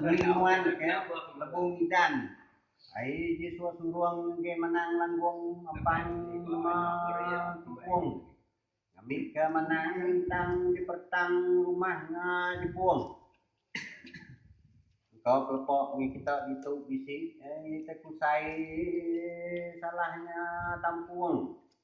Penginuan ke lebuh ngidan ai ji suwa surung enggai menang langgung ampang numa tepung ngambi ke menang tang dipertang rumah enga jebung engka ke lepa mih kita ditu bisi ai tusai salah nya tampung.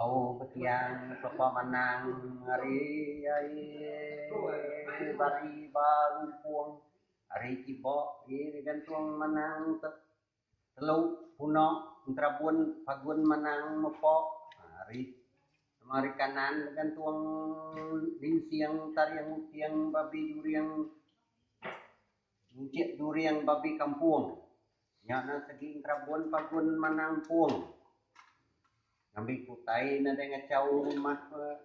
Au petiang sepa menang ari ai bari ba lumpung ari kiba ye digantung menang te telu puna enterabun pagun menang mepa ari sema ari kanan digantung dinsing taring uting babi during. Ngejit during babi kampung. Nya nan segi ngerabun pagun manang empung. Ngambi ke utai nadai ngachau rumah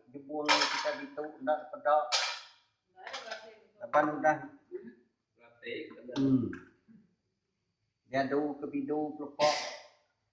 jebung kita ditu enda peda laban udah uhh diadu ke bidu ke lepa.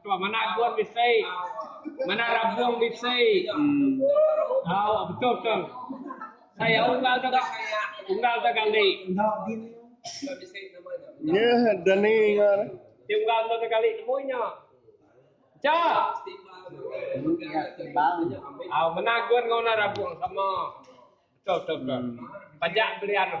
Tuan mana agun bisi. Mana rabung bisi. Au betul betul. Saya unggal dua unggal dua kali. Nya dani ngan. Ti unggal dua kali nemu nya. Cha. Au mana agun enggau mana rabung sama. Betul betul betul. Pajak belian tu.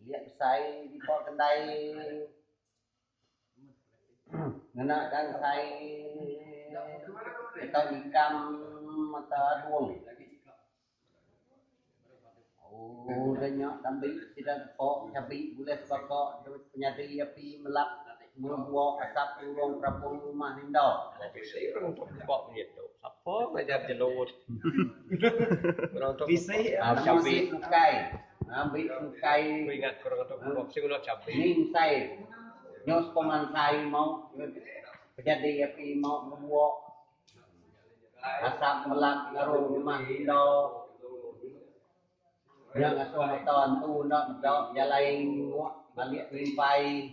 Bilik besai dibawa kendai ngena gansai atau nikam atau adung. Udah nya dambi sida gepo chabi bulih sebaka dep penyadi api melap ngebuo asap turung perapung rumah inda. Bisi orang tu berebak bunyi tu. Sapa ngajar jelut. Orang tu berebak. Nama sik bukai. Ngambi engkai ningsai nyau sepemansai mau pejadi api mau ngebuok asap melat ngaru rumah indau nya ngasuh mata entu enda meda jalai ngebuok alik kelimpai.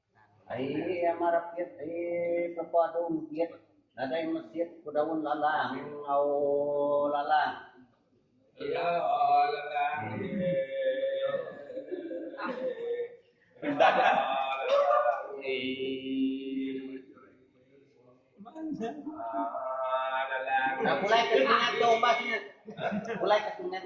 Ai amat rapit ai pelepa tu mekit nadai mesit ku daun lalang enggau lalang. Pulai ke sungai tu umbas nya. Pulai ke sungai.